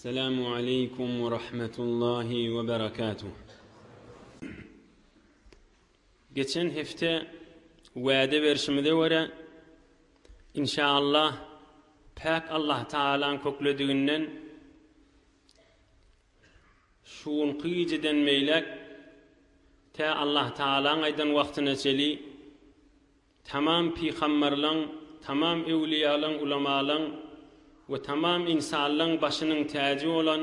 Esselamu aleykum we rahmetullahi we berekatuh. Geçen hepde wade berşimize göre inşallah päk Allah Taala'ň köklediginden Şu günki gijeden beýläk tä Allahtagalaň aýdan wagtyna çeli tamam pygamberleň, tamam öwlüýalaň, ulamalaň we tamam ynsanlaň başynyň täji bolan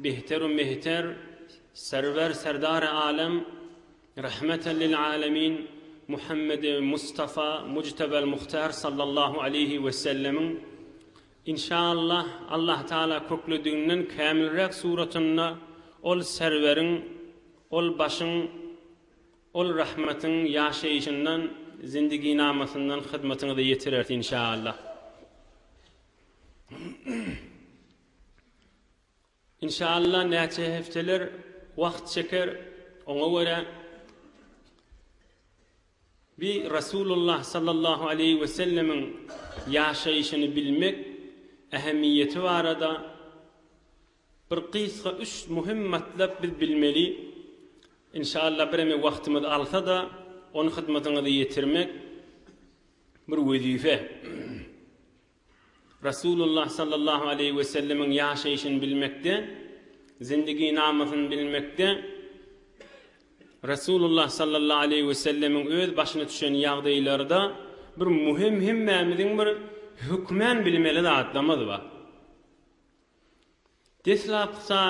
Behter-u Mehter, Serwer Serdar-y Alem, Rahmeten lil Alemin Muhammedi Mustafa Mujtebel Muhtar Sallallahu Aleýhi Wesellemiň Inşaallah Allah Taala köklediginden kämilräk suratynda ol serweriň, ol başyň, ol rahmatyň ýaşaýyşyndan, zindiginamasyndan hyzmatyňyza ýetirer inşaallah. Inşalla näçe hepdeler wagt çeker oňa görä bi Rasulullah sallallahu aleýhi we sellemiň ýaşaýşyny bilmek ähemiýeti barada bir gysga üç möhüm matlap biz bilmeli inşalla bireme wagtymyz alsada ony hyzmatyňyza ýetirmek bir wezife. Resulullah sallallahu aleýhi we sellemiň ýaşaýşyny bilmekde, Zindiginamasyny bilmekde, Resulullah sallallahu aleýhi we sellemiň öz başyna düşen ýagdaýlarda bir muhim hemmämiziň bir hökmän bilmeli zatlamyz bar. Deslapkda,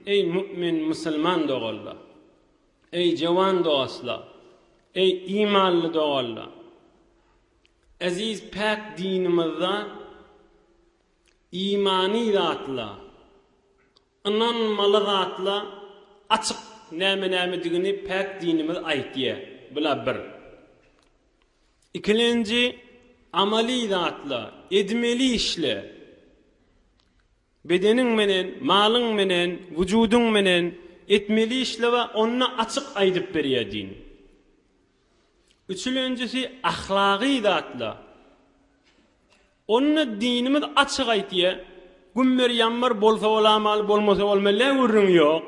Eý, mu'min musulman doganlar! Eý, jowan dostlar! Eý, imanly doganlar! Eziz päk dinimizde imany zatlar, ynanmaly zatlar açyk näme-nämedigini päk dinimiz aýtýar. Bular bir. Ikilenji, amaly zatla, edmeli işle. Bedeniň menen, malyň menen, wujudyň menen etmeli işle we onda açyk aýdyp berýär din. Üçülenjisi, ahlagy zatla. Onda dinimiz açyk aýtýar, Gümmer-ýammar bolsa bolamaly, bolmasa bolmaly, gürrüň ýok.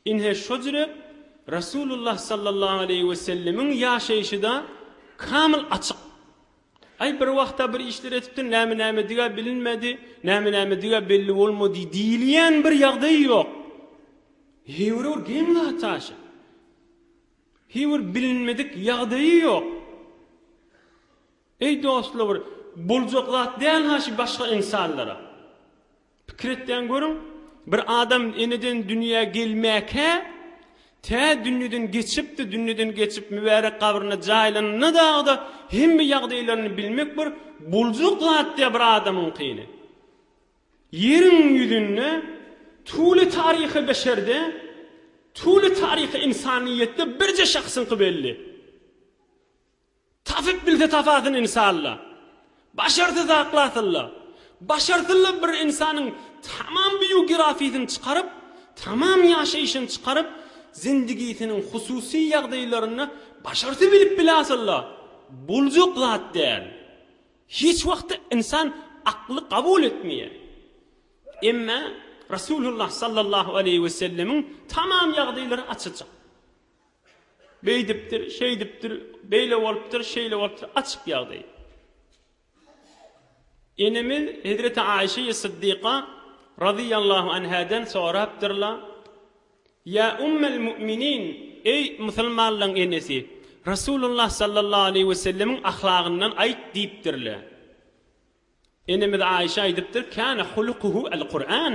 Ine, şo jürek Resulullah sallallahu aleýhi we sellemiň ýaşaýşy-da kamyl açyk. Aý, bir wagta bir işler etipdir, näme-nämedigä bilinmedi, näme-nämedigä belli bolmady diýilýän bir ýagdaýy ýok. Heýwir-bir geň zat aşa. Heýwir bilinmedik ýagdaýy ýok. Eý, dostlar, bir boljak zat däl-ha şu başga ynsanlara. Pikir etseň görüň, bir adam eneden dünýä gelmäkä, tä dünýeden geçipdi, dünýeden geçip mübärek gabryna jaýlananda dagy-da hemme ýagdaýlaryny bilmek bir boljak zatdy-ýa bir adamyňkyny. Ýeriň ýüzünde tuly taryhy beşerde, tuly taryhy ynsanyýetde birje şahsyňky belli. Tapyp bilse tapasyn insalla. Başarsa zaklasylla. Başarsylla bir insanyň tamam biogirafisini çykaryp, tamam ýaşaýşyny çykaryp, zindigisiniň hususy ýagdaýlaryny başarsa bilip bilasylla. Boljak zat däl. Hiç wagtda insan akly kabul etmeýär. Emma Rasulullah sallallahu aleýhi wesellemiň tamam ýagdaýlary açyljak. Beýdipdir, şeýdipdir, beýle bolupdyr, şeýle bolupdyr, açyk ýagdaý. Enemiz hezreti Aişeýi Syddyka razyýallahu anhadan sorapdyrlar, Ýa ummel mu'minin, eý musulmanlaryň enesi, Resulullah sallallahu aleýhi we sellemiň ahlagyndan aýt diýipdirler. Enemiz Aişe aýdypdyr, Kana hulukuhu el Kur'an.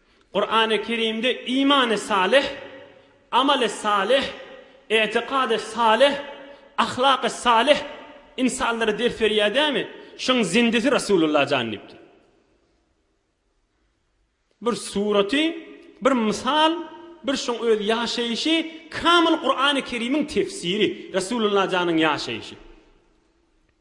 Kurany Kerimde imany salyh, amaly salyh, etikady salyh, ahlaky salyh ynsanlara ders berýär dämi? Şuň zindisi Rasulullah jan diýipdir. Bir suraty, bir mysal, bir şuň öz ýaşaýşy kamyl Kurany Kerimiň tefsiri, Rasulullah janyň ýaşaýşy.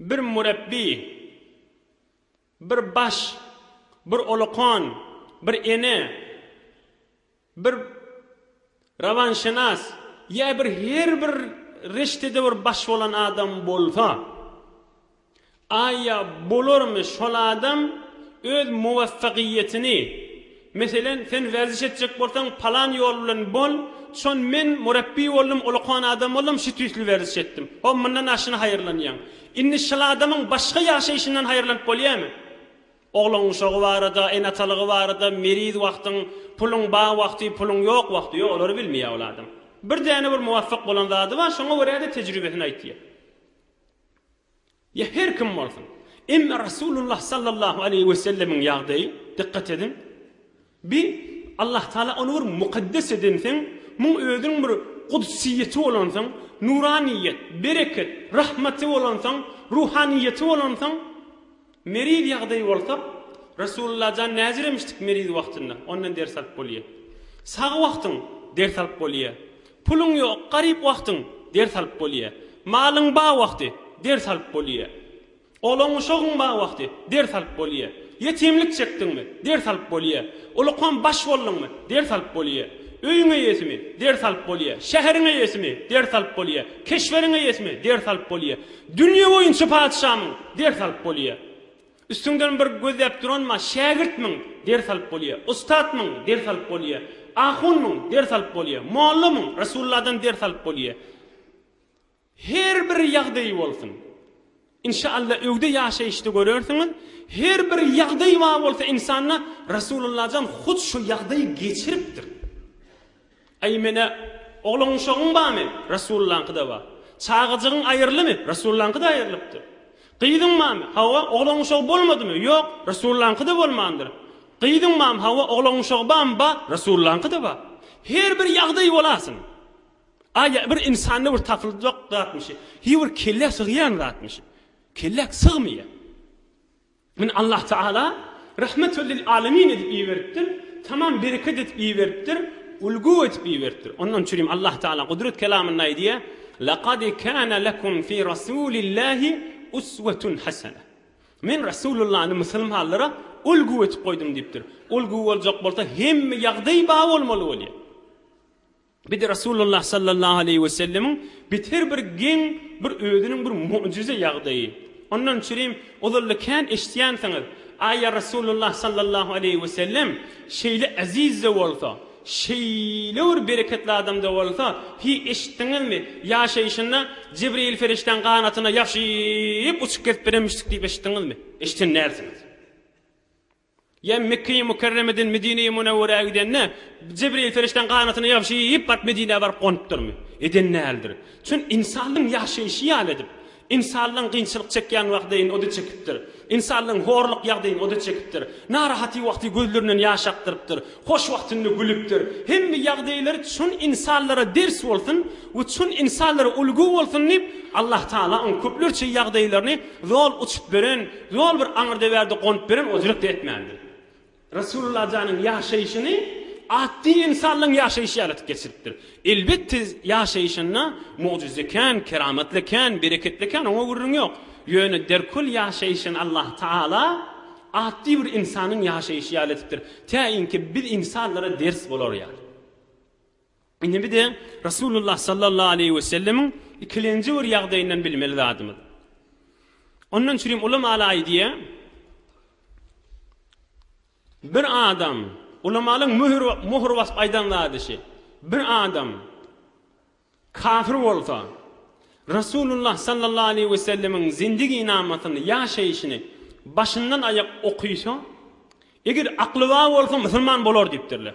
Bir mürepbi, bir baş, bir olakan, bir ene, bir rawanşenas ýa bir her bir reştede bir baş bolan adam bolsa, aýa bolarmy şol adam öz muwaffagyýetini, Meselen, sen werziş etjek bolsaň, palan ýol bilen bol, çon men murapbiý boldum, ulukan adam boldum, şü tüýsli werziş etdim. Ho, mundan aşyna haýyrlanýaň. Indi şyl adamyň başga ýaşaýşyndan haýyrlanyp bolýamy? Oglan guşagy barada, ene-atalygy barada, meriz wagtyň, puluň bar wagty, puluň ýok wagty, ýok, olary bilmeýär ol adam. Bir däne bir muwapyk bolan zady bar, şoňa görä-de tejribesini aýtýar. Ýa her kim bolsun. Emma Resulullah sallallahu aleýhi we sellemiň ýagdaýy, dykgat ediň, bi Allah Taala ony bir mukaddes edensoň, muň özüniň bir gudsyýeti bolansoň, nuranyýet, bereket, rahmaty bolansoň, ruhanyýeti bolansoň, meriz ýagdaýy bolsa, Resulullah jan näziremişdik meriz wagtynda, ondan ders alyp bolýa. Sag wagtyň ders alyp bolýa. Puluň ýok, garyp wagtyň, ders alyp bolýa. Malyň ba wagty, ders alyp bolýa. Olaň uşagyň ba wagty, ders alyp bolýa. Ýetimlik çekdiňmi, ders alyp bolýa. Ulukam baş bolduňmy, ders alyp bolýa. Öýüň eýesimi, ders alyp bolýa. Şäheriň eýesimi, ders alyp bolýa. Keşweriň eýesimi, ders alyp bolýa. Dünýe boýunça patyşamyň, ders alyp bolýa. Üstüňden bir gözläp duranma, Şägirtmiň, ders alyp bolýa, ustatmyň, ders alyp bolýa, ahunmyň, ders alyp bolýa, mollamyň, Resulladan ders alyp bolýa. Her bir ýagdaýy bolsun. Inşa Alla öwde ýaşaýyşda görersiňiz, her bir ýagdaý bar bolsa insanda, Resullajan hut şu ýagdaýy geçiripdir. Aý menä, oglan uşagyň barmy? Resullaňky-da bar. Çagajygyň aýrylymy? Resullaňky-da aýrylypdyr. Gyzyň barmy? Hawa, oglan uşagy bolmadymy? Ýok, Resullaňky-da bolmandyr. Gyzyň barmy? Hawa, oglan uşagy barmy? Bar, Resullaňky-da bar. Her bir ýagdaý bolasyn. Aý, bir insanda bir tapyljak zatmyşy? Hýu, bir kellä sygýan zatmyşy? Kelläk sygmaýar. Meni Allah Tagala Rahmetül lil alemin edip iberipdir, tamam bereket edip iberipdir, ulgu edip iberipdir. Ondan üçinem Allah Tagala Gudret kelamynda aýdýar, Lekad kana lekum fi Rasulillahi uswetun hasene. Men Rasulullany musulmanlara ulgu edip goýdum diýipdir. Ulgu boljak bolsa hemme ýagdaý ba bolmaly bolýar. Biz Resulullah sallallahu aleýhi we sellemiň biz her bir geň bir özüniň bir mu'jize ýagdaýy. Ondan üçinem ozalda kän eşitýänsiňiz, Aý ýa Resulullah sallallahu aleýhi we sellem şeýle eziz-de bolsa, şeýle bir bereketli adam-da bolsa, hiý eşitdiňizmi, ýaşaýşynda Jibril perişdäň ganatyna ýapyşyp uçup gezip bilenmişdik diýip eşitdiňizmi? Eşiden dälsiňiz. Ýa Mekge-i Mükerremeden Medine-i Münewwerä gidende, Jibril perişdäň ganatyny ýabşyp baryp Medinä baryp gonupdyrmy? Eden däldir. Çün ynsanlaň ýaşaýşy ýaly edip, ynsanlaň gynçylyk çekýän wagdyn o-da çekipdir. Ynsanlaň horluk ýagdyn o-da çekipdir. Narahaty wagty gözlerinden ýaş akdyrypdyr. Hoş wagtynda gülüpdir. Hemme ýagdaýlary çün ynsanlara ders bolsun we çün ynsanlara ulgy bolsun diýip, Allatagala oň köplerçe ýagdaýlaryny zol uçup beren, Ýol bir aňyrdöwerde gonup beren ozrek-de etmändi. Resulullah janyň ýaşaýşyny atdy ynsanlaň ýaşaýşy ýalydyp geçiripdir. Elbetde ýaşaýşynda mugjyza kän, keramatly kän, bereketli kän, oňa gürrüň ýok. Ýöne derkül ýaşaýşyny Allah Taala atdy bir ynsanlaň ýaşaýşy ýaly edipdir. Tä inki biz ynsanlara ders bolar ýaly. Indi bize Resulullah sallallahu aleýhi we sellemiň ikilenji bir ýagdaýyndan bilmeli zadymyz. Ondan çürim ulamalar aýdýar, bir adam, ulamalyň möhür möhür basyp aýdan zady şi, bir adam kafir bolsa, Resulullah sallallahu aleýhi we sellemiň zindigi namasyny, ýaşaýşyny başyndan aýak okysa, eger akly bar bolsa musulman bolar diýipdirler.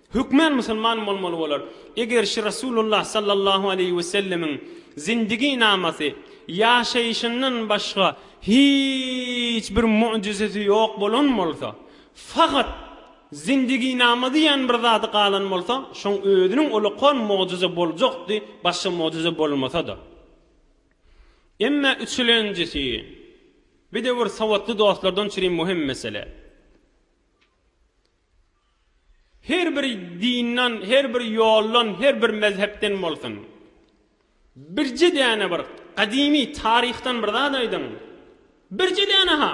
Hökmän musulman bolmaly bolar. Eger şi Resulullah sallallahu aleýhi we sellemiň zindigi namasy, ýaşaýşyndan başga hiç bir mu'jizesi ýok bolan bolsa, fakat zindigi nama diýen bir zady galan bolsa, şoň özüniň ulakan mu'jize boljakdy, başga mu'jize bolmasa-da. Emma üçülenjisi, bidewir sowatly dostlardan çüri muhim mesele. Her bir dindan, her bir ýoldan, her bir mezhepden bolsun. Birje däne bir gadymy taryhdan bir zat aýdyň. Birje däne-ha!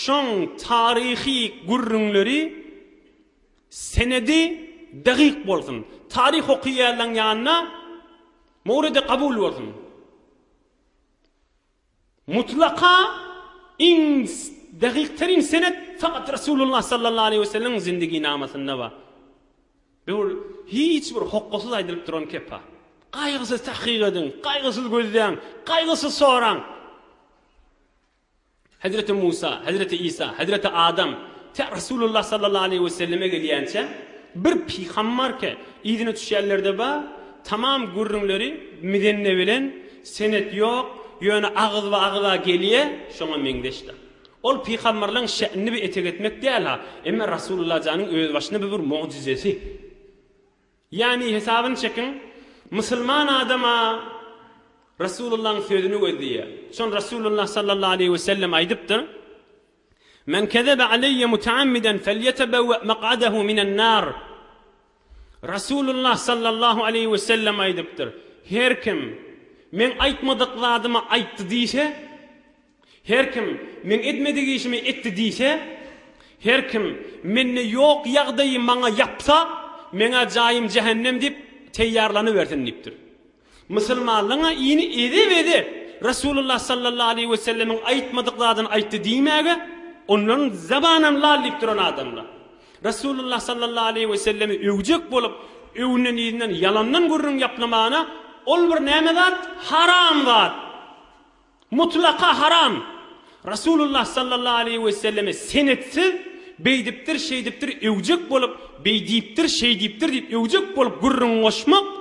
Şoň taryhy gürrüňleri, senedi dagyk bolsun. Taryh okaýanlaň ýanyna mowredi kabul bolsun. Mutlaka iň dagykterin senet fakat Resulullah sallallahu aleýhi we sellemiň zindiginamasyna bar. Bu hiç bir hokgasyz aýdylyp duran kepa. Gaýgysyz tahkyk ediň, gaýgysyz gözläň, gaýgysyz soraň. Hezreti Musa, Hezreti Isa, Hezreti Adam tä Resulullah sallallahu aleýhi we selleme gelýänçä bir pygammarke yzyna düşýänlerde bar, tamam gürrüňleri mizenne bilen, Senet ýok, ýöne agyzba agyza gelýä, şoňa meňzeşdir. Ol pygamberleň şe'nini bir etek etmek däl-ha, emma Rasulullah janyň özbaşyna bu bir mugjizesi. Ýagny hesabyny çekiň, musulman adam-a Rasulullahyň sözüni gözleýä. Şony Rasulullah sallallahu aleýhi wesellem aýdypdyr. Men kezebe aleýe mutaamiden felýetebewe mak'adehu minen nar. Rasulullah sallallahu aleýhi we sellem aýdypdyr, Her kim Meň aýtmadyk zadymy aýtdy diýse, her kim Meň etmedik işimi etdi diýse, her kim Mende ýok ýagdaýy maňa ýapsa, Meň-ä jaýym jähennem diýip teýýarlanybersin diýipdir. Musulmanlaryň-a ini eze-beze Resulullah sallallahu aleýhi we sellemiň aýtmadyk zadyny aýtdy diýmäge onlaryň zabanam lal diýip duran adamlar. Resulullah sallallahu aleýhi we sellemi öwjek bolup, öwünden-yzyndan ýalandan gürrüň ýaplamagyna ol bir näme zat? Haram zat! Mutlaka haram! Rasulullah sallallahu aleýhi weselleme senetsiz beýdipdir, şeýdipdir öwjek bolup, beý diýipdir, şeý diýipdir diýip öwjek bolup gürrüň goşmak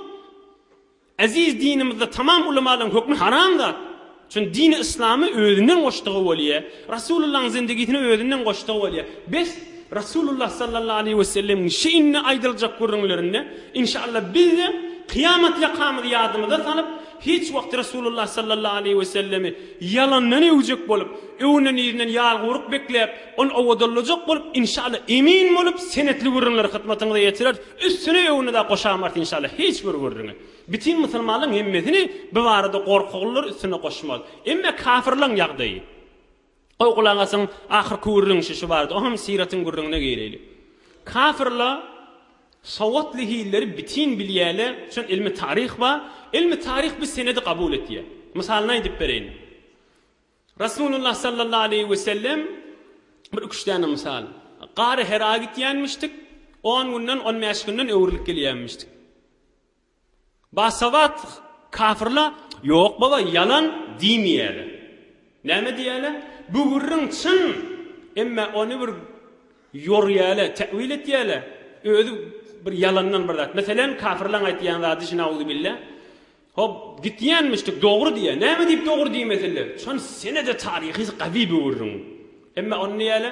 eziz dinimizde tamam ulamalyň hökmi haram zat. Çün dini yslamy özünden goşdugy bolýa. Rasulullahyň zindigisini özünden goşdugy bolýa. Bes, Rasulullah sallallahu aleýhi wesellemiň şi indi aýdyljak gürrüňlerinde, inşallah bizde kyýamat ýakamyzy ýadymyza salyp, Hiç wagt Resulullah sallallahu aleýhi we sellemi ýalandan öwjek bolup, öwünen-iýrnen ýalgowruk bekläp, ony owadallajak bolup, inşallah, emin bolup, senetli gürrüňleri hytmatyňyza ýetireris, üstüne öwünde-de goşamars inşallah hiç bir gürrüňi. Bütin musulmanlaryň hemmesini bu barada gorkaglylar üstüne goşmaz. Emma kafirlaryň ýagdaýy. O gulak asyň ahyrky gürrüň şişi bardy, o hem syratyň gürrüňine gireýli. Kafirla sowatly hilleri bitin bilýäle, üçin ilmi taryh bar. Ilmi taryh bu senedi kabul etýä. Mysalyny aýdyp bereýin. Rasulullah sallallahu aleýhi we sellem bir iki üç däne mysal. Gary Hera gitýänmişdik, on günden, on bäş günden öwrülip gelýänmişdik. Basabat kafirla Ýok baba ýalan diýmeýäle. Näme diýäle? Bu gürrüň çyn, emma ony bir ýorýäle, täwil etýäle, özi bir ýalandan bir zat. Meselem kafirlaň aýtýan zady şi nauzubilla. Hop, gitýänmişdik, dogry diýýä. Näme diýip dogry diýmesinler? Çyn, senede taryhy gazy bu gürrüň. Emma ony näýäle?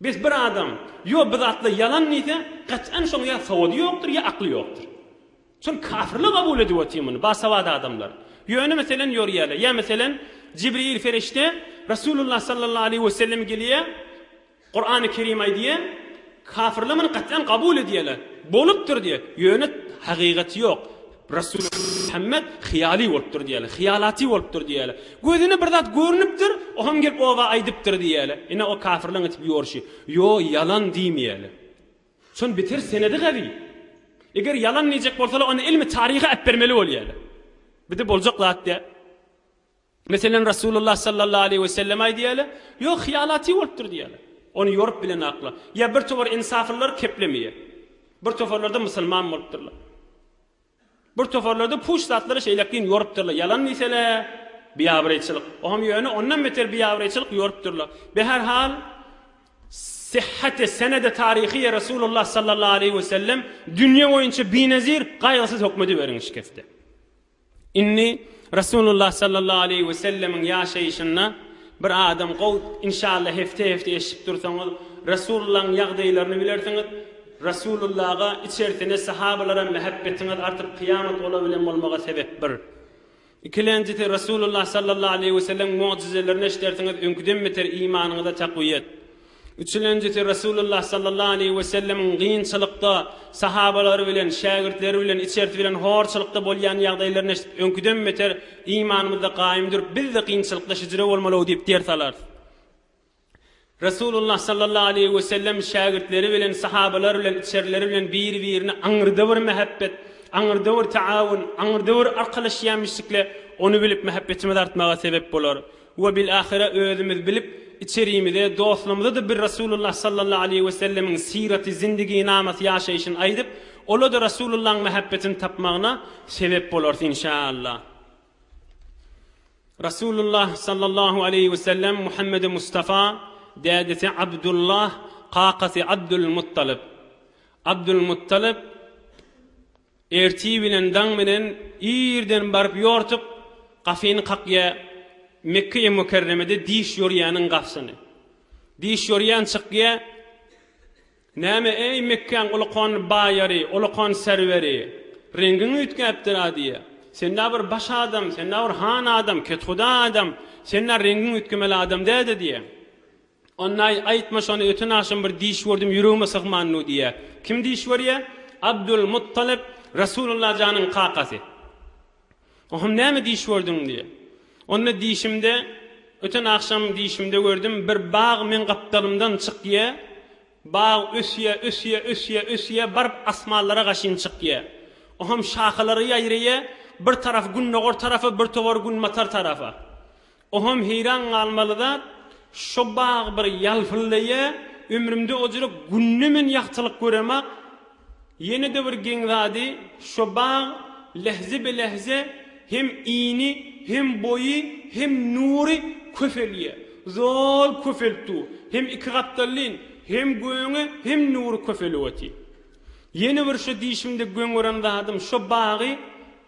Bes bir adam ýo bu zatlar ýalan diýse gat'an şoň ýa sowady ýokdur ýa akly ýokdur. Şol kafirler kabul edip otyr muny basawat adamlar. Ýöne meselen ýorýäler ýa meselen Jibril ferişte Resulullah sallallahu aleýhi we sellem gelýä Kur'any kerim aýdýa kafirler muny gat'an kabul edýäler bolupdyr diýä ýöne hakygaty ýok Rasul Muhammet hyýaly bolupdyr diýýärler. Hyýalaty bolupdyr diýýärler. Gözüne bir zat görnüpdir, o hem gelip oba aýdypdyr diýýärler. Ine o kafirleň etip ýorşy. Ýo, ýalan diýmeýärler. Şony bitir senedi gazy. Eger ýalan diýjek bolsalar onda ilmi taryhy äpbermeli bolýarlar. Bide boljak zat däl. Meselem, Resulullah sallallahu aleýhi we sellemaý diýäýle, Ýok, hyýalaty bolupdyr diýäýle. Ony ýorup bilenakla. Ýa bir towar ensaflylar keplemeýe. Bir tofarlarda musulman bolupdyrlar. Bir tofarlarda puç zatlary şeýlekin ýorupdyrlar. Ýalan diýsele, biabraýçylyk. O hem ýöne ondan beter biabraýçylyk ýorupdyrlar. Be her hal, syhhate, senede taryhyýe Resulullah sallallahu aleýhi we sellem dünýe boýunça binezir, gaýgysyz hökmediberiň şikeste. Indi Resulullah sallallahu aleýhi we sellemiň ýaşaýşynda bir adam gow inşallah hefte hefte eşidip dursaňyz Resulullaň ýagdaýlaryny bilersiňiz Resulullaga içersine sahabalara mähebbetiňiz artyp kyýamat olar bilen bolmaga sebep bir ikilenjisi Resulullah sallallahu aleýhi we sellemiň mugjizelerini eşidersiňiz öňküden beter imanyňyza takwyýet Üçülenjisi Resulullah sallallahu aleýhi we sellemiň gynçylykda sahabalary bilen, şägirtleri bilen, içersi bilen horçulykda bolýan ýagdaýlaryny eşidip öňküden beter imanymyzda gaýym durup bizde gynçylykda hijre bolmalygy diýip ders alarys. Resulullah sallallahu aleýhi we sellem şägirtleri bilen, sahabalary bilen, içerleri bilen biri birine aňyrda bir mähebbet, aňyrda bir taawun, aňyrda bir arkalaşýamyşdikle ony bilip mähebbetimiz artmaga sebep bolar. We bil ahyre özümiz bilip içerimize dostlarymyzada bir Rasulullah sallallahu aleýhi we sellemiň syraty zindigi namasy ýaşaýşyny aýdyp olada Rasulullahyň mähebbetini tapmagyna sebep bolarys inşaallah. Rasulullah sallallahu aleýhi we sellem Muhammedi Mustafa dädesi Abdullah kakasy Abdul Muttalyp Abdul Muttalyp, Ertir bilen daň bilen irden baryp ýortuk, gafyny kakýa, Mekge-i Mükerremede diş ýorýäniň gafysyny. Diş ýorýan çykýa, Näme, eý, Mekgäň ulukon baýary, ulukon serweri, reňgiň üýtgäpdir-a diýýä. Sen-ä bir baş adam, sen-ä bir han adam, kethuda adam, sen-ä reňgiň üýtgemeli adam däl-de diýýä. Onnaý, aýtma şony, öten agşam bir diş gördüm, ýüregime sygmandy diýýä. Kim diş görýä? Abdul Muttalyp, Resulullah janyň kakasy. Oňam näme diş gördüň? diýýä. Onda dişimde, öten agşam dişimde gördüm, bir bag meň gapdalymdan çykýa, bag ösýä, ösýä, ösýä, ösýä, baryp asmanlara gaşyn çykýa. Oňam şahalary ýaýraýa, bir tarap gündogar tarapa, bir towar günbatar tarapa. Oham heýran galmaly zat, şo bag bir ýalpyldaýa, ömrümde ojra günde men ýagtylyk göremok. Ýene-de bir geň zady, şo bag lehze-belehze hem ini, hem boýy, hem nury köpelýä. Zol köpelip dur. Hem iki gapdallyn, hem göni, hem nury köpelip otyr. Ýene bir şu diýşimde göň gören zadym, şo bagy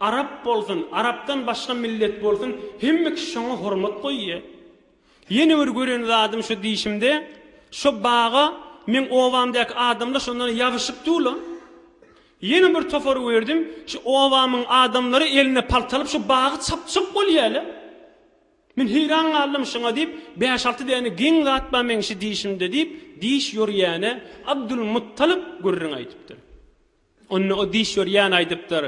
arap bolsun, arapdan başga millet bolsun, hemme kişi şoňa hormat goýýa. Ýene bir gören zadym şu diýşimde, şo baga meň obamdaky adamlar şondan ýabyşyp dur-la. Ýene bir topar gördüm, şu obamyň adamlary eline palta alyp, şu bagy çapjak bolýa-la. Men heýran galdym şuňa diýip, bäş-alty däne geň zat bar meň şu dişimde diýip, diş ýörýäne Abdulmuttalyp gürrüň aýdypdyr. Onda o diş ýörýän aýdypdyr,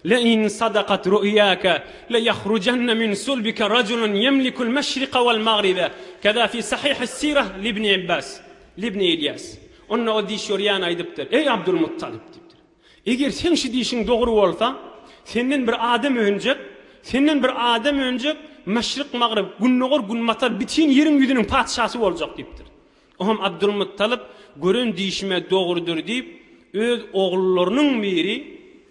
Lein sadakat ru'ýake leyahrujanne min sulbike rajulun ýemlikul meşrike wal magribe, keza fi sahihi sirah libni Ibas, libni Ilýas. Onda o diş ýörýän aýdypdyr, Eý Abdulmuttalyp diýipdir. Eger seň şi diýşiň dogry bolsa, senden bir adam önjek, senden bir adam önjek, maşryk-magryp, gündogar-günbatar bitin ýeriň ýüzüniň patyşasy boljak diýipdir. Oňam Abdylmuttalip, Gören diýşim-ä dogrudyr diýip, öz ogullarynyň biri,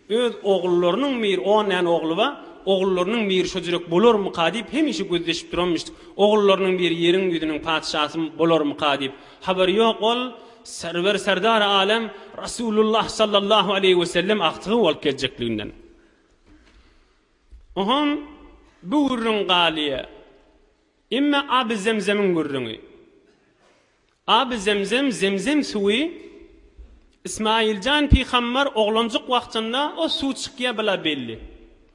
öz ogullarynyň biri, on däne ogly bar, ogullarynyň biri şo jürek bolarmyka diýip, hemişe gözleşip duranmyş, ogullarynyň biri ýeriň ýüzüniň patyşasy bolarmyka diýip. Habary ýok ol, Serwer Serdar Alem Rasulullah Sallallahu Aleýhi we Sellem agtygy bolup geljekliginden. Ohoň bu gürrüň galyýa. Emme Aby Zemzemiň gürrüňi. Aby Zemzem Zemzem suwy Ismaýiljan pygambar oglanjyk wagtynda o suw çykýa bila belli.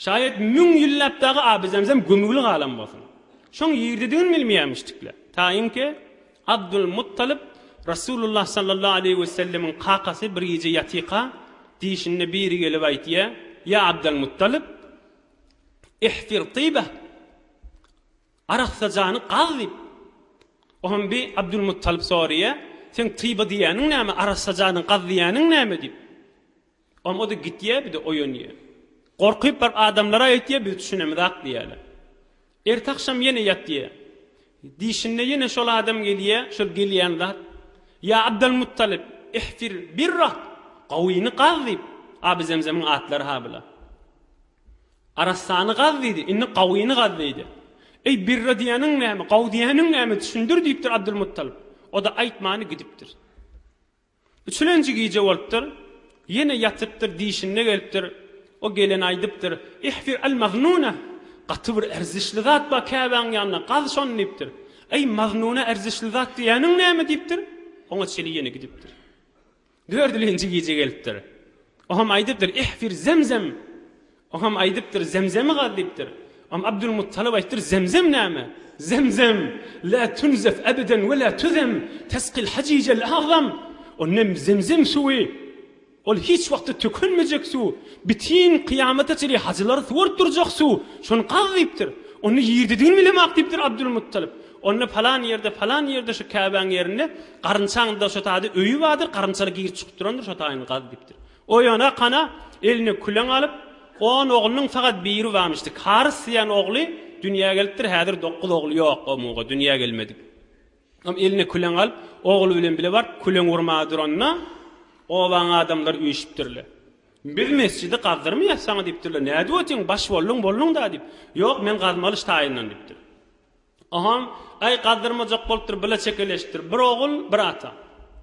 Şaýat müň ýyllap dagy Abyzemzem gömügli galan bolsun. Şoň ýerdedigini bilmeýärmişdikler. Taýynki, Abdulmuttalyp, Resulullah sallallahu aleýhi we sellemiň kakasy bir gije ýatyka, diýşinde biri gelip aýtýar, Ýa Abdalmuttalyp! Ihfir tybah! Arassajany gaz diýip. Oňam bi Abdulmuttalyp soraýar, Seň tyba diýýäniň näme, arassajany gaz diýýäniň näme diýip. Ol o-da gitýär, bir-de oýanýar. Gorkyp bir adamlara aýtýar, biz düşünemizak diýýärler. Ertagşam ýene ýatýar. Diýşinde ýene şol adam gelýär, şol gelýän zat, Ýa Abdalmuttalyp, ihfir birrat, Gawyny gaz diýip, Aby Zemzemiň atlary-ha bular. Arassany gaz diýdi, indi Gawyny gaz diýdi. Eý, birra diýýäniň näme, gawy diýýäniň näme, düşündir diýipdir Abdulmuttalyp. O-da aýtmany gidipdir. Üçülenji gije bolupdyr. Ýene ýatypdyr, diýşinde gelipdir. O gelen aýdypdyr, Ihfir al-maznuna, Gaty bir erzişli zat bar Käbäň ýanynda, gaz şony diýipdir. Eý, maznuna erzişli zat diýýäniň näme diýipdir. Oňa çeli ýene gidipdir. Dördülenji gije gelipdir. O hem aýdypdyr, Ihfir zemzem, Oňam aýdypdyr, Zemzemi gaz diýipdir. Oňa Abdulmuttalyp aýtdyr, Zemzem näme? Zemzem, lä tunzef ebeden we lä tuzem, tesqil hajijel agzam. Ol nem Zemzem suwy. Ol hiç wagtda tökülmejek suw. Bitin kyýamata çenli hajylary suwaryp durjak suw. Şony gaz diýipdir. Onda ýerdedigini bilemok diýipdir Abdulmuttalyp. Onda palan ýerde, palan ýerde şu käbäň ýerinde garynçaň daşotada öýi bardyr, garynçaly girip-çykyp durandyr, şo taýyny gaz diýipdir. Oýana kana eline küleň alyp, on oglunyň sagat biri bamyşdy. Karys diýen ogly dünýä gelipdir, häzir dokuz ogly ýok o muga, dünýä gelmedik. Am eline küleň alyp, ogly bilen bile baryp küleň urmaga duranda, obanyň adamlary üýşüpdirler. Biz mesjidi gazdyrmaýas saňa diýipdirler. Nädip otyň, baş bolduň, bolduň-da diýip. Ýok, men gazmalyş taýyndan diýipdir. Oňam, Aý, gazdyrmajak bolupdyr, bile çekeleşipdir. Bir ogul, bir ata.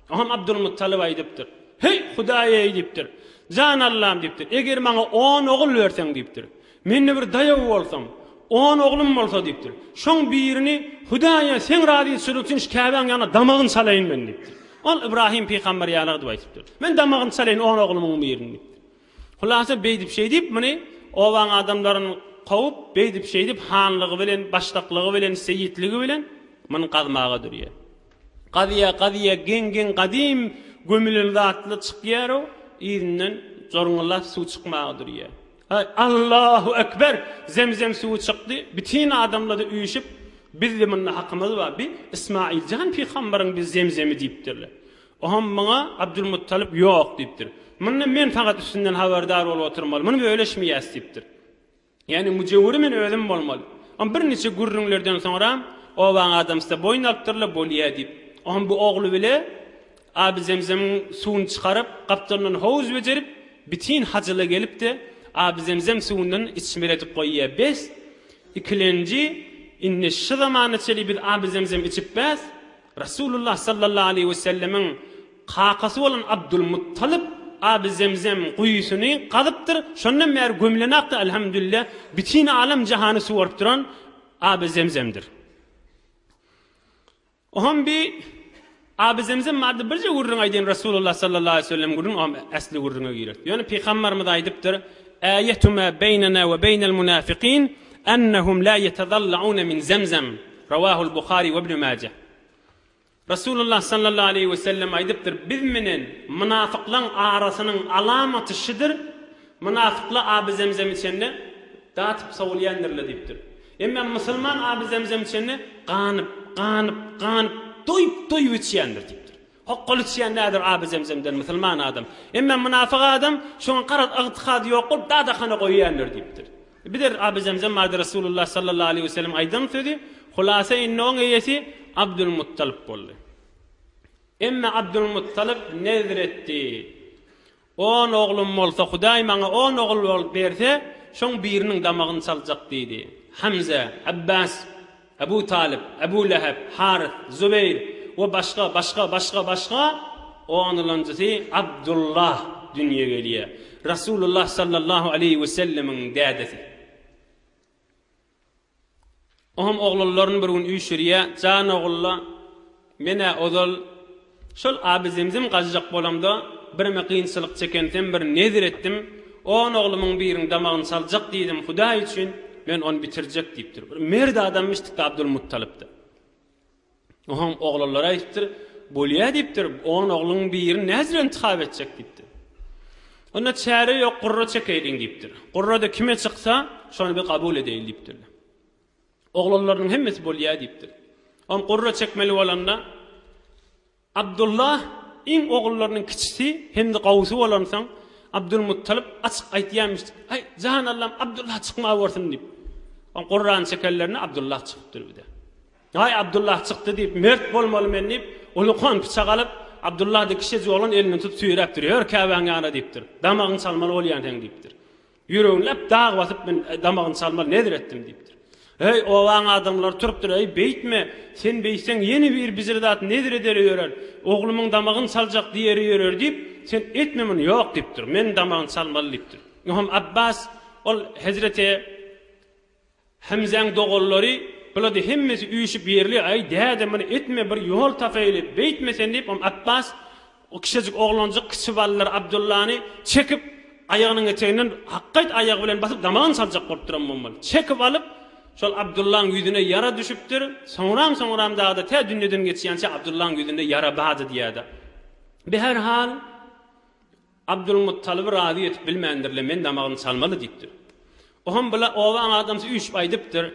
Oňam Abdulmuttalyp aýdypdyr. Heý, Hudaý-eý! diýipdir. Jan Allam! diýipdir. Eger maňa on ogul berseň, diýipdir. Mende bir daýaw bolsaň, on oglum bolsa, diýipdir. Şoň birini Hudaýa seň razyçylygyň üçin şu Käbäň ýanyna damagyn çalaýyn men, diýipdir. Ol Ybrahym pygamber ýaly gydyp aýdypdyr. Men damagyn çalaýyn on oglumyň birini, diýipdir. Hulasa beýdip-şeýdip muny obaň adamlaryn kowup, beýdip-şeýdip hanlygy bilen, başdaklygy bilen, seýitligi bilen muny gazmaga durýar. Gazýa, gazýa geň-geň gadym gömülen zatly çykýar-u, yzyndan jorňullap suw çykmaga durýar. Aý, Allahu ekber! Zemzem suwy çykdy, bütin adamlady üýşüp, Bizli munda hakymyz bar, bi Ysmaýyljan pygambaryň bi zemzemi diýipdirler. Oňa muňa Abdulmuttalyp ýok diýipdir. Munda men fakat üstünden habardar bolup oturmaly. Muny bölüşmeýäs diýipdir. Ýagny müjewüri men özüm bolmaly. Oňa bir niçe gürrüňlerden soňra obaň adamsy-da boýun alypdyr-la bolýa diýip. Oňa bu ogly bile Aby Zemzemiň suwuny çykaryp, gapdalyndan howuz bejerip, bitin hajyla gelip-de, Aby Zemzem suwundan içmeli edip goýýa. Bes, ikilenji, indi şu zamana çenli biz Aby Zemzem içip bäs. Resulullah sallallahu aleýhi we sellemiň kakasy bolan Abdulmuttalyp Aby Zemzem guýusyny gazypdyr, şondan bäri gömülen akdy Alhamdulillah, bütin alam-jahany suwaryp duran Aby Zemzemdir. Oňam bi Aby Zemzem barada birje gürrüň aýdaýyn Resulullah sallallahu aleýhi we sellem gürrüň oňam äsli gürrüňe girer. Ýöne Pygambarymyz aýdypdyr, Äýetu ma beýnena we beýnel munafikin ennehum la ýetezallawna min Zemzem. Rawahul Buhari we Ibn Maje. Resulullah sallallahu aleýhi we sellem aýdypdyr, Biz menen mynafyklaň arasynyň alamaty şudur, Mynafykla aby zemzem içende, datyp sowulýandirler diýipdir. Emma musulman aby zemzem içende, ganyp, ganyp, ganyp, doýup, doýup içýändir diýipdir. Hokgal içýän näder Aby Zemzemden musulman adam. Emme mynafyk adam şoňa garaz ygtykady ýok bolup dadahana goýýandyr diýipdir. Bider Aby Zemzem barada Resulullah sallallahu aleýhi weselem aýdan sözi, Hulasa indi oň eýesi Abdulmuttalyp boldy. Emme Abdulmuttalyp nezr etdi. On oglum bolsa, Hudaý maňa on ogul bolup berse, şoň biriniň damagyny çaljak diýdi. Hemze, Abbas, Abu Talyp, Abu Läheb, Harys, Zubeýr we başga, başga, başga, başga, onulanjysy Abdullah dünýä gelýär. Rasulullah sallallahu aleýhi wesellemiň dädesi. Oňam oglanlaryn bir gün üýşürýä, Jan ogul-la, men-ä ozal şol Abizemzem gaçjak bolamda birime kynçylyk çekensem bir nezir etdim, on oglumyň birin damagyny çaljak diýdim, Hudaý üçin, men ony bitirjek diýipdir. Bir mert adamymyş tik-de Abdulmuttalyp-da. Oňam oglanlary aýdypdyr, Bolýa diýipdir, on ogluň birini nädip intihap etjek diýipdir. Onda çäre ýok, gurra çekeýliň diýipdir. Gurrada kime çyksa, şony bir kabul edeýin diýipdirler. Oglanlarynyň hemmesi bolýa diýipdir. Oňam gurra çekmeli bolanda, Abdullah iň ogullarynyň kiçisi hem-de gowusy bolansoň, Abdulmuttalyp açyk aýtýarmyşdyk, Aý, jan Allam, Abdullah çykmawersin! diýip. Oň gurrany çekenlerine Abdullah çykypdyr bir-de. Aý, Abdullah çykdy diýip, mert bolmaly men diýip, ulukan pyçak alyp, Abdullah-da kişejik oglan elinden tutup süýräpdir, Ýör Käbäň ýana diýipdir. Damagyňy çalmaly bolýan seň diýipdir. Ýüregini läp dag basyp men damagyny salmaly nezir etdim diýipdir. Heý, obaň adamlary turupdyr, Eý, beýtme, sen beýtseň ýene bir bijir zat nezir ederi ýörer, oglumyň damagyny saljak diýeri ýörer diýip, sen etme muny, ýok diýipdir. Men damagyny salmaly diýipdir. Ynha, Abbas ol hezreti. Hemzäň doganlary bulady hemmesi üýşüp ýerli aý däde muny etme bir ýol tapaýyly beýtme sen diýip on Apbas o kişejik oglanjyk kiçi ballary Abdullany çekip aýagynyň eteginden hakgaýt aýagy bilen basyp damagyny saljak bolupdyram bommaly çekip alyp şol Abdullaň ýüzüne ýara düşüpdir soňram soňram dagda tä dünýeden geçýänçä Abdullaň ýüzünde ýara bady diýäda bi her hal Abdulmuttalyby razy etip bilmändir-le, men damagyny çalmaly diýipdir. O hem bu-la obaň adamsy üýşüp aýdypdyr.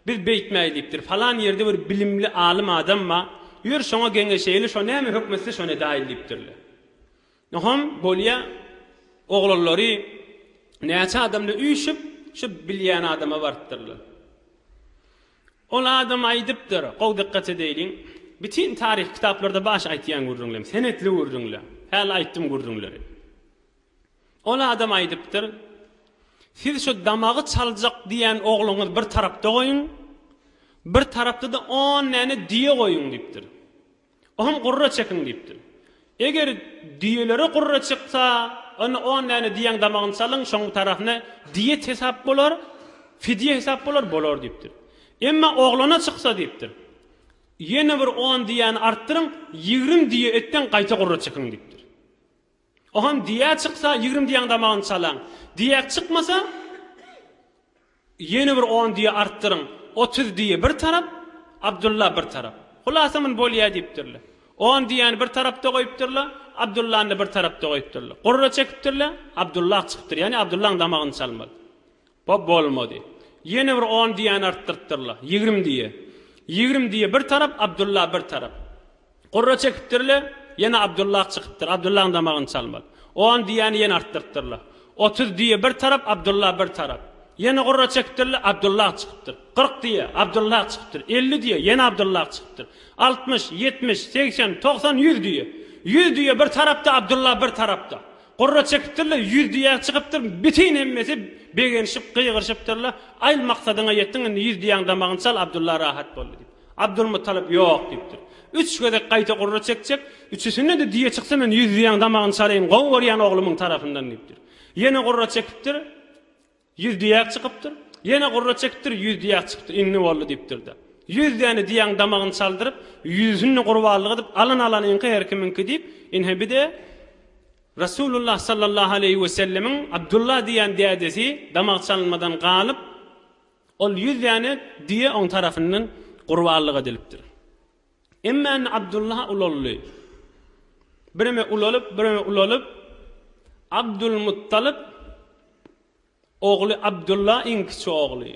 Biz beýtmäýi diýipdir. Falan ýerde bir bilimli alym adam bar. Ýör, şoňa geňeşeýli, şo näme höküm etse, şony edäýeli diýipdir-le. O hem bolýa, oglanlary näçe adam-la üýşüp, şu bilýän adama barypdyrlar. Ol adam aýdypdyr, gowy dykgat edäýliň, Bütin taryhy kitaplarda baş aýtýan gürrüňlem, senetli gürrüňle. Häli aýtdym gürrüňleri. Ol adam aýdypdyr, Siz şu damagy çaljak diýen ogluňyzy bir tarapda goýuň, bir tarapda-da on däne düýe goýuň diýipdir. Oňam gurra çekiň diýipdir. Eger düýelere gurra çyksa, onda on däne düýäň damagyny çalyň, şoň bitaryhasyna diýet hesap bolar, fidýe hesap bolar, bolar diýipdir. Emma oglana çyksa diýipdir. Ýene bir on düýäni artdyryň, ýigrimi düýe etdeň, gaýta gurra çekiň diýipdir. Ohan diýä çyksa ýigrim diýäň damagyny çalaň. Diýäk çykmasa ýene bir on diýe artdyryň. Otuz diýe bir tarap, Abdulla bir tarap. Hulasa mun bolýa diýipdirler. On diýäni bir tarapda goýupdyrla, Abdullany-da bir tarapda goýupdyrla. Gurra çekipdirle, Abdulla ak çykypdyr. Ýani Abdullaň damagyny çalmaly. Hop, bolmady. Ýene bir on diýäni artdyrtdyr-la. Ýigrimi diýe. Ýigrimi diýe bir tarap, Abdylla bir tarap. Gurra çekipdir-le, ýene Abdylla çykypdyr. Abdyllaň damagyny çalmaly. On diýäni ýene artdyrtdyr-la. Otuz diýe bir tarap, Abdylla bir tarap. Ýene gurra çekipdir-le, Abdylla çykypdyr. Kyrk diýe, Abdylla çykypdyr. Elli diýe, ýene Abdylla çykypdyr. Altmyş, ýetmiş, segsen, togsan, ýüz diýe. Ýüz diýe bir tarapda, Abdylla bir tarapda. Gurra çekipdirler, ýüz diýäge çykypdyr, bütin hemmesi begenişip, gygyryşypdyrlar, Aýl, maksadyňa ýetdiň, indi ýüz diýäň damagyny çal, Abdylla rahat boldy diýip. Abdylmuttalyp, Ýok diýipdir. Üç gezek gaýta gurra çekjek, üçüsinde-de diýe çyksa men ýüz diýäň damagyny çalaýyn, gowy görýän oglumyň tarapyndan diýipdir. Ýene gurra çekipdir. Ýüz diýäk çykypdyr. Ýene gurra çekipdir, ýüz diýäk çykypdyr. Indi boldy diýipdir-de. Ýüz däne diýägiň damagyny çaldyryp, ýüzüni gurbanlyk edip, alan alanyňky, her kimiňki diýip, ine bir-de Resulullah sallallahu aleýhi wesellemiň Abdullah diýen dädesi damak çalynmadan galyp, ol ýüz däne diýe oň tarapyndan gurbanlyk edilipdir. Emma indi Abdullah ulaldy. Bireme ulalyp, bireme ulalyp, Abdulmuttalyp ogly Abdullah iň kiçi ogly.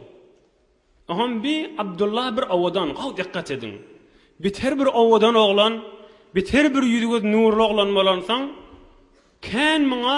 Oňam bi Abdullah bir owadan, gowy dikkat ediň. Beter bir owadan oglan, beter bir ýüzi-gözi nurly oglan bolansoň, kän muňa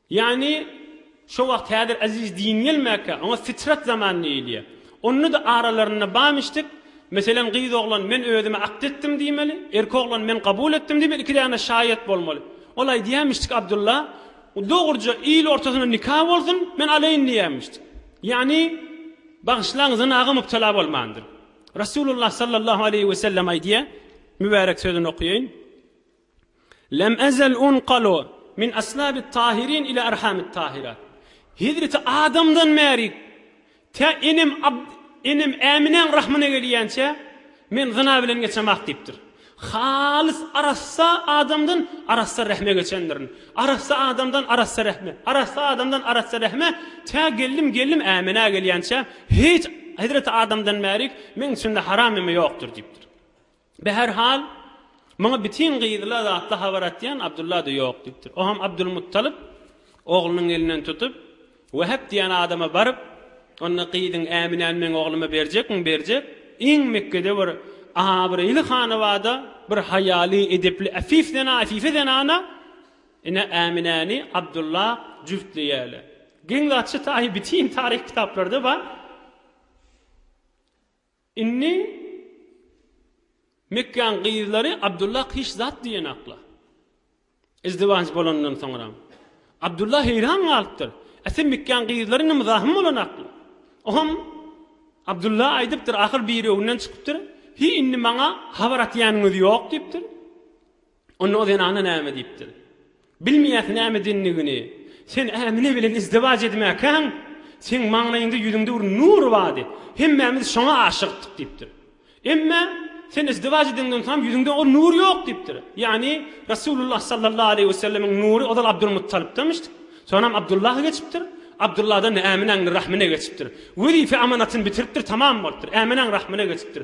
Ýagny, şo wagt häzir Aziz din gelmäkä, oňa fitrat zaman diýilýär. Onda-da aralarynda bamyşdik, meselem, gyz oglan men özüme akt etdim diýmeli, erki oglan men kabul etdim diýmeli, iki däne şaýat bolmaly. Ol aýdýarmyşdyk, Abdulla, dogruja il ortasynda nika bolsun, men alaýyn diýýärmişdik. Ýagny, bagyşlaň, zynaga mübtela bolmandyr. Resulullah sallallahu aleýhi wesellem aýdýar, mübärek sözüni okaýaýyn. Lem ezel unqalu min aslabit tahirin ila arhamit tahirat. Hezreti Adamdan bäri tä enem enem Äminäň rahmyna gelýänçä men zyna bilen geçemok diýipdir. Halys arassa adamdan arassa rehme geçendirin. Arassa adamdan arassa rehme, arassa adamdan arassa rehme tä geldim gelnim Äminä gelýänçä hiç Hezreti Adamdan bärik meň içimde haram neme ýokdur diýipdir. Behärhal, muňa bitin gyzyla datly habar atýan Abdylla-da ýok diýipdir. O hem Abdylmuttalyp oglunyň elinden tutup, Wehep diýen adama baryp, onda gyzyň Äminäni meň ogluma berjekmiň? Berjek. Iň Mekgede bir abraýly hanabada bir haýaly, edepli, äfif zenan, äfife zenana ine Äminäni Abdylla jübtleýärler. Geň zatçy taýy bitin taryh kitaplarda bar. Indi Mekgäň gyzlary Abdullah hiç zat diýenoklar. Izdiwaç bolandan soňram. Abdullah heýran galypdyr. Äse Mekgäň gyzlary nymzahym bolanoklar. Oňam Abdullah aýdypdyr, ahyr birewinden çykypdyr, Hiý, indi maňa habar atýanyňyz ýok diýipdir. Onda o zenana näme diýipdir? Bilmeýäs näme diýendigini. Sen Ämine bilen izdiwaç edmäkäň, seň maňlaýyňda ýüzüňde bir nur bardy. Hemmämiz şoňa aşykdyk diýipdir. Emma sen izdiwaç edeňden soň ýüzüňde ol nur ýok diýipdir. Ýagny Resulullah sallallahu aleýhi wesellemiň nury ozal Abdulmuttalybdamyş. Soňam Abdullaha geçipdir. Abdullahdan-da Äminäň rahmyna geçipdir. Wezipe-amanatyn bitiripdir, tamam bolupdyr. Äminäň rahmyna geçipdir.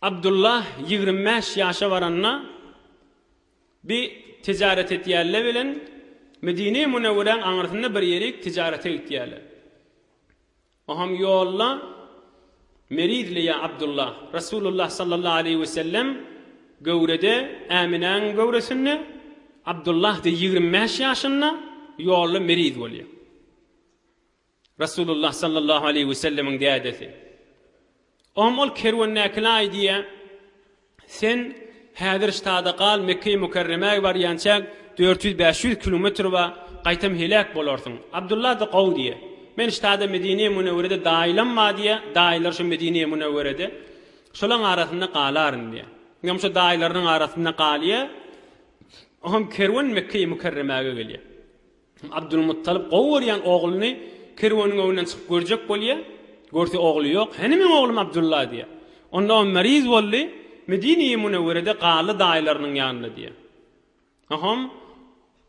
Abdulla ýigrimi bäş ýaşa baranda bi tijaret etýärle bilen Medine-i Munewweräň aňyrsynda bir ýerik tijarete gitýärle. Oham ýolda Merizli ýa Abdulla, Resulullah sallallahu aleýhi we sellem göwrede, Äminäň göwresinde, Abdullah de ýigrimi bäş ýaşynda ýolda meriz bolýar. Resulullah sallallahu aleýhi we sellemiň dädesi. Oňam ol kerwendäkilaý diýýä, Sen häzir ştada gal, Mekge-i Mükerremäge barýança dört ýüz, bäş ýüz kilometr ba, gaýtam heläk bolarsyň. Abdullah-da gowy diýýä. Men ştada Medine-i Münewwerede daýylam ba diýýä, daýylar şu Medine-i Münewwerede. Şolaň arasynda galaryn diýýä. Oňam şo daýylarynyň arasynda galýa. Oňam kerwen Mekge-i Mükerremäge gelýä. Abdulmuttalyp gowy görýän ogluny kerweniň öňünden çykyp görjek bolýar. Görse ogly ýok. Hany meň oglum Abdulla diýýär. Onda o meriz boldy, Medine-i Munewwerede galdy daýylarynyň ýanynda diýýär. Soňam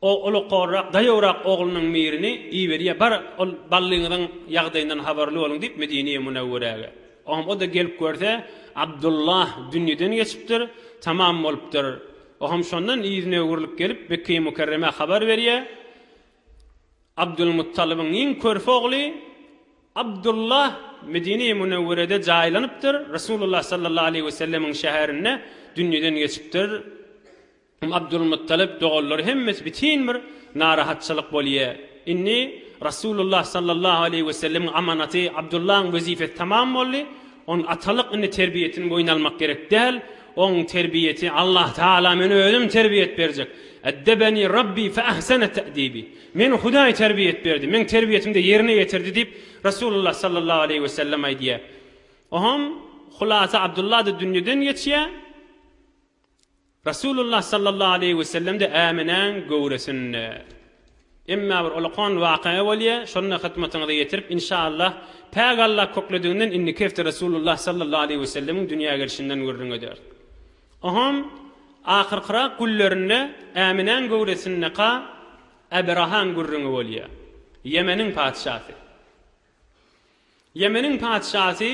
o ulukhorrak, daýawrak oglunyň mirini iberýär, Bar, ol ballyňyzyň ýagdaýyndan habarly boluň diýip Medine-i Munewwerege. Oňa o-da gelip görse, Abdylla dünýeden geçipdir, tamam bolupdyr. Oňam şondan yzyna öwrülip gelip, Mekge-i Mükerremä habar berýär. Abdylmuttalybyň iň körpe ogly Abdylla Medine-i Münewwerede jaýlanypdyr, Resulullah sallallahu aleýhi wesellemiň şäherinde dünýeden geçipdir. Abdulmuttalib doganlary hemmesi bitin bir narahatçylyk bolýa. Indi Rasulullah sallallahu aleýhi wesellemiň amanaty Abdullaň wezipesi tamam boldy. Onuň atalyk indi terbiýesini boýun almak gerek däl. Oň terbiýesi Allah Taala men özüm terbiýet berjek. Eddebeni Rabbi fe ahsene te'dibi. Meni Hudaý terbiýet berdi. Meň terbiýetimde ýerine ýetirdi diýip Rasulullah sallallahu aleýhi wesellem aýdýa. Ohom hulasa Abdullada dünýeden geçýä. Resulullah sallallahu aleýhi wesellem-de Äminäň göwresinde. Emma bir olakan waka bolýa, şony-da hyzmatyňyza ýetirip, inşaallah, Päk Alla köklediginden indiki hepde Resulullah sallallahu aleýhi wesellemiň dünýä gelşinden gürrüň ederis. Oňam ahyrkyrak günlerinde Äminäň göwresindeka Abrahaň gürrüňi bolýa. Ýemeniň patyşasy. Ýemeniň patyşasy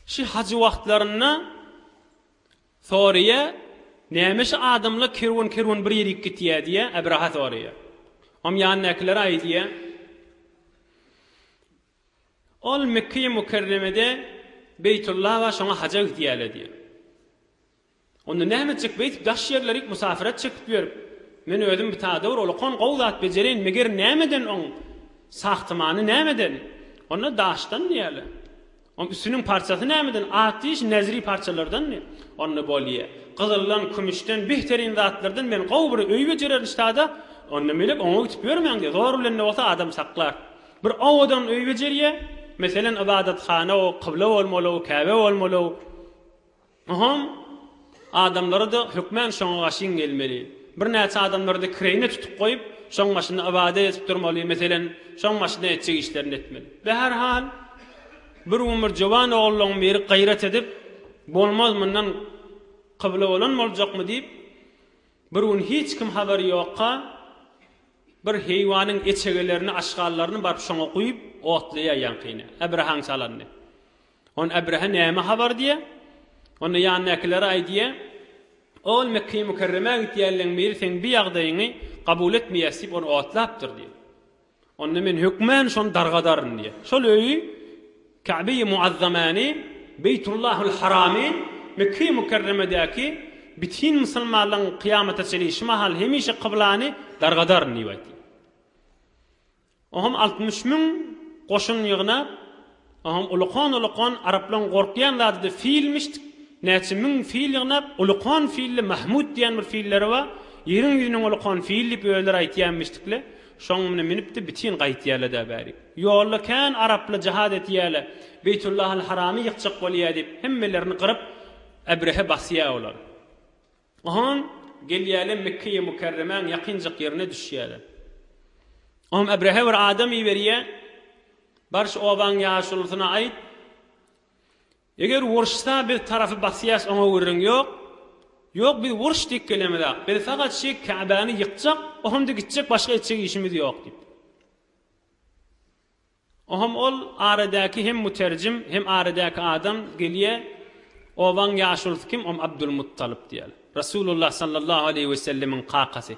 şi hajy wagtlarynda Soraýar, Näme şu adamlar kerwen-kerwen bir ýerik gitýär diýýär, Abraha soraýar. Oňa ýanyndakylar aýdýar, Ol Mekgeýi Mükerremede Beýtulla bar, şoňa haja gidýärler diýýär. Onda näme etjek beýdip daş ýerlerik musafirat çekip ýörüp, men özüm bitadawr, ol okan gowy zat bejereýin, meger nämeden oň sahtimany nämeden? Onda daşdan diýýärler. Onuň üstüniň parçasy nämeden? Atýeş nezri parçalardanmy? Onda bolýa. Gyzyldan, kümüşden, bihterine zatlardan men gowy bir öý bejererin ştada. Onda melek oňa gitip ýörmäň-de, zor bilen-de bolsa adam saklar. Bir owadan öý bejerýä. Meselen, ybadathana-ow, kybla bolmaly-ow, käbe bolmaly-ow. Muhym, adamlara-da hökmän şoňa gaşyň gelmeli. Birnäçe adamlary-da kireýine tutup goýup, şoň başynda ybadat edip durmaly, meselem, şoň başynda etjek işlerini etmeli. Be her hal, bir gün bir jowan ogullaň biri gaýrat edip, Bolmaz, mundan kybla bolan boljakmy diýip, bir gün hiç kim habary ýokka, bir heýwanyň eçegelerini, aşgallaryny baryp şoňa guýup, otlaýar ýaňkyny, äbrahaň çalandy. Onda Ebrehe näme habar diýýär? Onda ýanyndakylara aýdýar, Ol Mekge-i Mükerremä gidýänleň biri seň bi ýagdaýyňy kabul etmeýäs diýip, ony otlapdyr diýýär. Onda men hökmän şony dargadaryn diýýär. Şol öýi Käbe-i Muazzamany, Beýtullahul Haramy, Mekge-i Mükerremedäki bütin musulmanlaryň kyýamata çenli şu mahal hemişe kyblany dargadaryn diýip aýtýar. Oňam altmyş müň goşun ýygnap, oňam ulukon-ulukon araplaryň gorkýan zadydy filmişdik, näçe müň fil ýygnap, ulukon filli Mahmut diýen bir filleri bar, ýeriň ýüzüniň ulukon fili diýip özleri aýtýanmişdikle, şoň mine münüpdi bitin gaýtýalada bäri. Ýolda kän araply jahad etýäle, Beýtullahylharamy ýykjak bolýa diýip hemmelerini gyryp Ebrehe basýa olar. Oňam gelýärler Mekgeýi Mükerremäň ýakynjak ýerine düşýärler. Oňam Ebrehe bir adam iberýär, Bar şu obaň ýaşulusyna aýt, Eger uruşsa biz tarapy basýas oňa gürrüň ýok, ýok biz uruş diýip gelemizak, biz fakat şi Käbäni ýykjak, oňamda gitjek başga etjek işimiz ýok diýip. Oham ol aradäki hem muterjim hem aradäki adam gelýä obaň ýaşulysy kim om abdulmuttalyp diýýäl rasulullah sallallahu aleýhi wesellemiň kakasy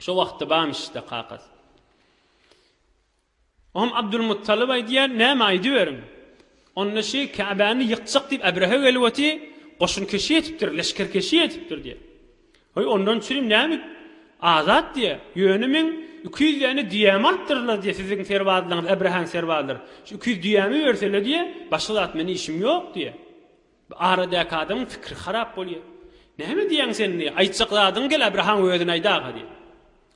şo wagtda bamyşda kakasy oham abdulmuttalyp aýdýär näme aýdyberiň onda şi käbäni ýykjak diýip äbrehe gelip oty goşunkeşi etipdir leşgerkeşi etipdir diýýär Haý, ondan çyn näme Azat diýýä. Ýöne meň iki ýüz däne düýämi alypdyrlar diýýä, siziň serbazlaryňyz, Äbrahaň serbazlary. Şu iki ýüz düýämi bersele diýýä, başga zat men işim ýok diýýä. Bu aradäki adamyň pikiri harap bolýa. Näme diýýäň sen diýýä, aýtjak zadyňy gel Äbrahaň özüne aýda-ha diýýä.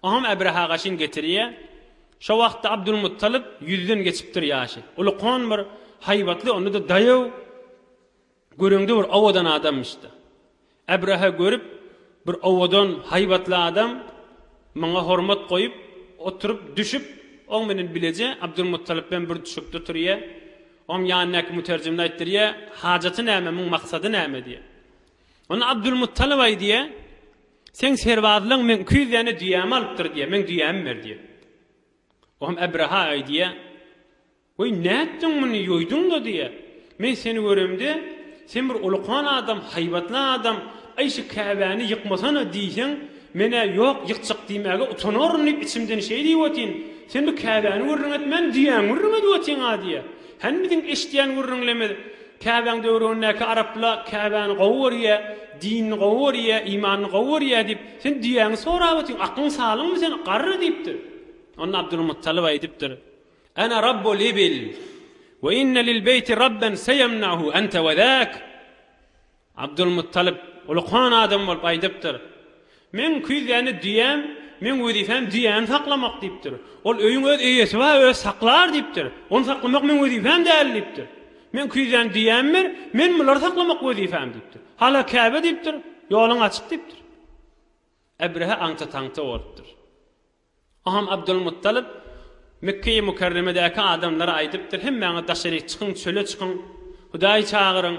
Oňam Äbraha gaşyn getirýä. Şo wagtda Abdulmuttalyp ýüzden geçipdir ýaşy. Uly kon bir, haýbatly, onda-da daýaw. Göreňde bir owadan adammyş-da. Abraha görüp, bir owadan, haýbatly adam, maňa hormat goýup, oturyp, düşüp, oň bilen bileje Abdylmuttalypem bir düşekde oturýa. Oň ýanyndaky müterjimine aýtdyrýa, Hajaty näme, muň maksady näme? diýýä. Onda Abdylmuttalyp aýdýa, Seň serbazlaň meň iki ýüz däne düýämi alypdyr diýýä, meň düýämi ber diýýä. Oňam Abraha aýdýa, Weý, nätdiň muny, ýoýduň-da, diýýä. Men seni göremde, sen bir ulukan adam, haýbatly adam, Aý, şu käbäni ýykmasana! diýseň, men-ä ýok, ýykjak diýmäge utanaryn diýip, içimden şeý diýip otyn. Sen bu käbäni gürrüň etmän, düýäňi gürrüň edip otyň-a, diýýä. Hany biziň eşidýän gürrüňlimiz, Käbäň döwründäki araplar käbäni gowy görýä, dinini gowy görýä, imanyny gowy görýä diýip, sen düýäňi sorap otyň, akyň salymmy sen, garry diýipdir. Onda Abdulmuttalyp aýdypdyr. Ana Rabbu l-ibil we inne lil-beýti Rabben seýemnahu ente we zak. Abdulmuttalyp ulukan adam bolup aýdypdyr, Meň küýzäni düýäm, meň wezipem düýäni saklamak diýipdir. Ol öýüň öz eýesi bar, özi saklar diýipdir. Ony saklamak meň wezipem däl diýipdir. Meň küýzäni düýäm ber, men bulary saklamak wezipem diýipdir. Hala Käbe diýipdir, Ýoluň açyk diýipdir. Ebrehe aňta-taňta bolupdyr. Aham Abdylmuttalyp Mekgeýi Mükerremedäki adamlara aýdypdyr, Hemmäňiz daşaryk çykyň, çöle çykyň, Hudaýy çagyryň.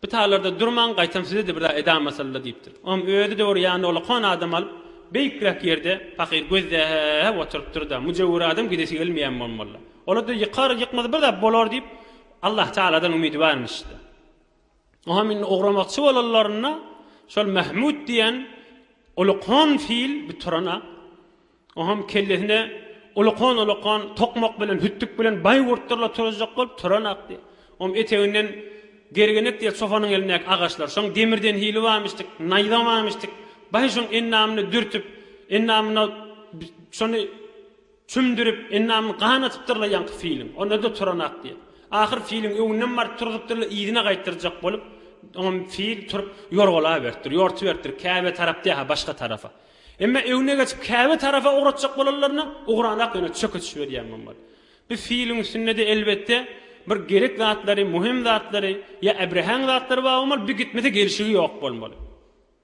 Bu taýlarda durmaň, gaýtam size-de bir zat edam asylda diýipdir. Aham özi dogry ýanyna olakan adam alyp, beýikräk ýerde pakyr gözläp oturypdyr-da, müjewür adam gidesi gelmeýän bolmaly. Olar-da ýykar, ýykmasa bir zat bolar diýip, Allatagaladan umydy barmyş-da. Oňam indi ugramakçy bolanlarynda şol Mahmut diýen ulukhan fil bir turan-a. Oňam kellesine ulukhan-ulukhan tokmak bilen, hütdük bilen baýgurtdyrlar turuzjak bolup turanakdy. Oňam eteginden Gergenek diýen çopanyň elindäki agaçlar. Şoň demirden hili barmyşdyk, naýza barmyşdyk. Baý şoň endamyny dürtüp, endamyna şony Çümdürip, endamyny gan atypdyr-la ýaňky filiň. Onda-da turanak diýip. Ahyr filiň öňünden baryp turzup-dyrla yzyna gaýtdyrjak bolup, oňam fil turup ýorgalaberipdir, ýortuberipdir, Käbä tarap dä-ha, başga tarafa. Emma öňüne geçip Käbä tarapa ugratjak bolanlaryna ugranak ýöne çöke düşüberýän bolar. Bu filiň üstünde-de, elbetde, bir gerek zatlary, möhüm zatlary ýa äbrehäň zatlary bar bolmaly, bi gitmese gelşigi ýok bolmaly.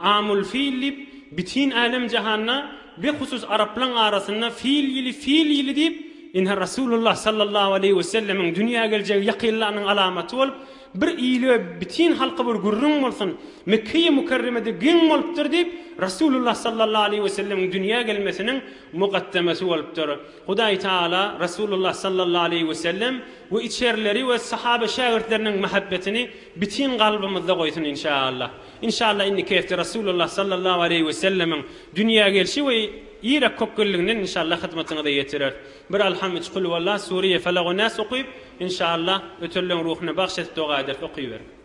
Amul fil diýip, bitin älem-jahanda, behusus araplaň arasynda fil ýyly, fil ýyly diýip, ine, Resulullah sallallahu aleýhi we sellemiň dünýä geljegi ýakynlanyň alamaty bolup, bir ýyly we bitin halky bir gürrüň bolsun, Mekkeýi Mükerremede geň bolupdyr diýip, Resulullah sallallahu aleýhi we sellemiň dünýä gelmesiniň mugaddemesi bolupdyr. Hudaý Tagala Resulullah sallallahu aleýhi we sellem we içerileri we sahabe-şägirtleriniň mähebbetini bitin kalbymyzda goýsun, inşaallah. Inşallah indi keste Rasulullah sallallahu aleýhi we sellemiň dünýä gelşi we Irak kökgelliginden inşallah hyzmatyňyza ýetireris. Bir Alham üç Kulhuwallah Suriýe Felak we Nas okyp inşallah ötelleriň ruhyna bagş edip doga ederis okyberiň.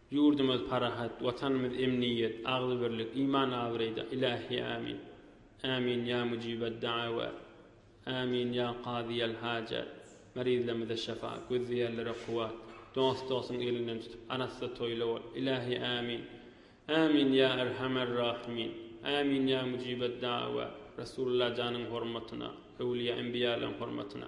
Ýurdumyz parahat, Watanymyz emniýet, agzybirlik, iman-abraýda, Ilahi Amin! Amin ýa mujibed-daawat! Amin ýa kazyýel-hajat! Merizlerimize şyfa, gözleýänlere kuwwat, dost-dostuň elinden tutup, arassa toýly bol, Ilahi Amin! Amin ýa Erhamer-Rahimin! Amin ýa mujibed-daawat! Resulullah janyň hormatyna, öwlüýä-enbiýalaryň hormatyna,